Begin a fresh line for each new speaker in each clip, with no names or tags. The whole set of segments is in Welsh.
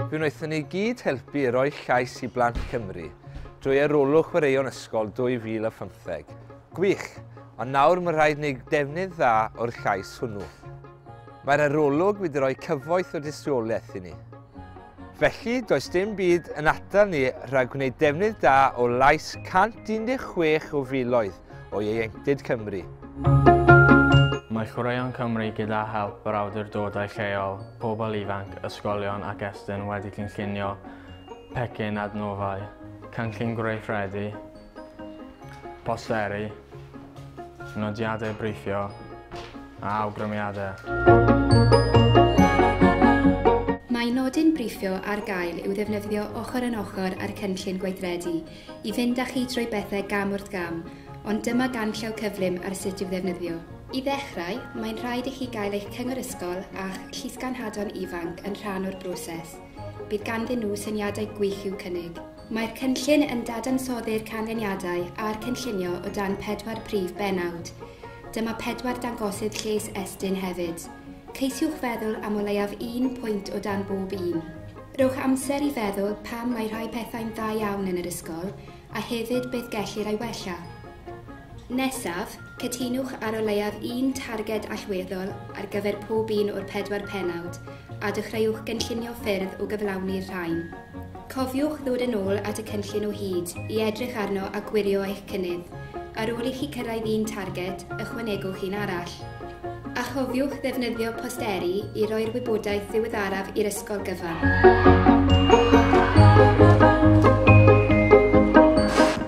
Fe wnaethon ni gyd helpu i roi llais i blant Cymru drwy arolwg chwaraeon ysgol 2015. Gwych! Ond nawr mae rhaid wneud defnydd dda o'r llais hwnnw. Mae'r arolwg wedi rhoi cyfoeth o dystiolaeth i ni. Felly, does dim byd yn atal ni rhag gwneud defnydd da o lais 116 o filoedd o ieuenctid Cymru.
Mae Chwaraeon Cymru gyda help yr awdurdodau lleol, pobl ifanc, ysgolion ac Estyn wedi cynllunio pecyn adnoddau, cynllun gweithredu, Posteri, nodiadau briffio a awgrymiadau.
Mae nodyn briffio ar gael i'w ddefnyddio ochr yn ochr â'r cynllun gweithredu i fynd â chi trwy bethau gam wrth gam, ond dyma ganllaw cyflym ar sut i'w ddefnyddio. I ddechrau, mae'n rhaid i chi gael eich cyngor ysgol a'ch llysganhadon ifanc yn rhan o'r broses. Bydd ganddyn nhw syniadau gwych i'w cynnig. Mae'r cynllun yn dadansoddi'r canlyniadau a'r cynllunio o dan pedwar prif bennawd. Dyma pedwar dangosydd lles Estyn hefyd. Ceisiwch feddwl am o leiaf un pwynt o dan bob un. Rhowch amser i feddwl pam mae rhai pethau'n dda iawn yn yr ysgol a hefyd beth gellir ei wella. Nesaf, cytunwch ar o leiaf un targed allweddol ar gyfer pob un o'r pedwar pennawd a dechreuwch gynllunio ffyrdd o gyflawni'r rhain. Cofiwch ddod yn ôl at y cynllun o hyd i edrych arno a gwirio eich cynnydd. Ar ôl i chi cyrraedd un targed, ychwanegwch un arall. A chofiwch ddefnyddio posteri i roi'r wybodaeth ddiweddaraf i'r ysgol gyfan.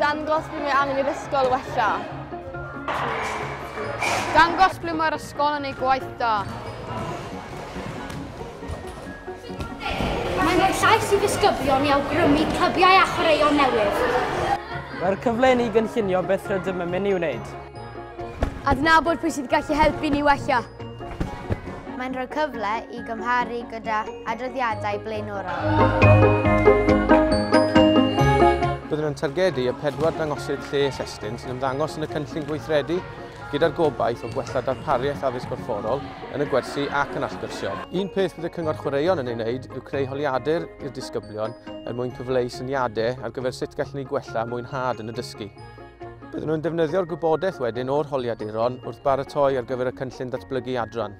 Dangos ble mae angen i'r ysgol wella. Dangos ble mae'r Sgol yn ei gwaith da.
Mae'n rhoi llais i ddisgyblion i awgrymu clybiau a chwaraeon newydd. Mae'r cyfle i
ni gynllunio beth rydym yn mynd i wneud. Adnabod
pwy sydd gallu helpu ni wella.
Mae'n rhoi cyfle i gymharu gyda adroddiadau blaenorol.
Byddwn yn targedu y pedwar dangosydd lles estyn sy'n ymddangos yn y cynllun gweithredu gyda'r gobaith o gwella darpariaeth addysg gorfforol yn y gwersi ac yn allgyrsiol. Un peth bydd y Cyngor Chwaraeon yn ei wneud yw creu holiadur i'r disgyblion er mwyn cyfleu syniadau ar gyfer sut gallwn ni gwella mwynhad yn y dysgu. Byddwn nhw'n defnyddio'r gwybodaeth wedyn o'r holiaduron wrth baratoi ar gyfer y cynllun datblygu adran.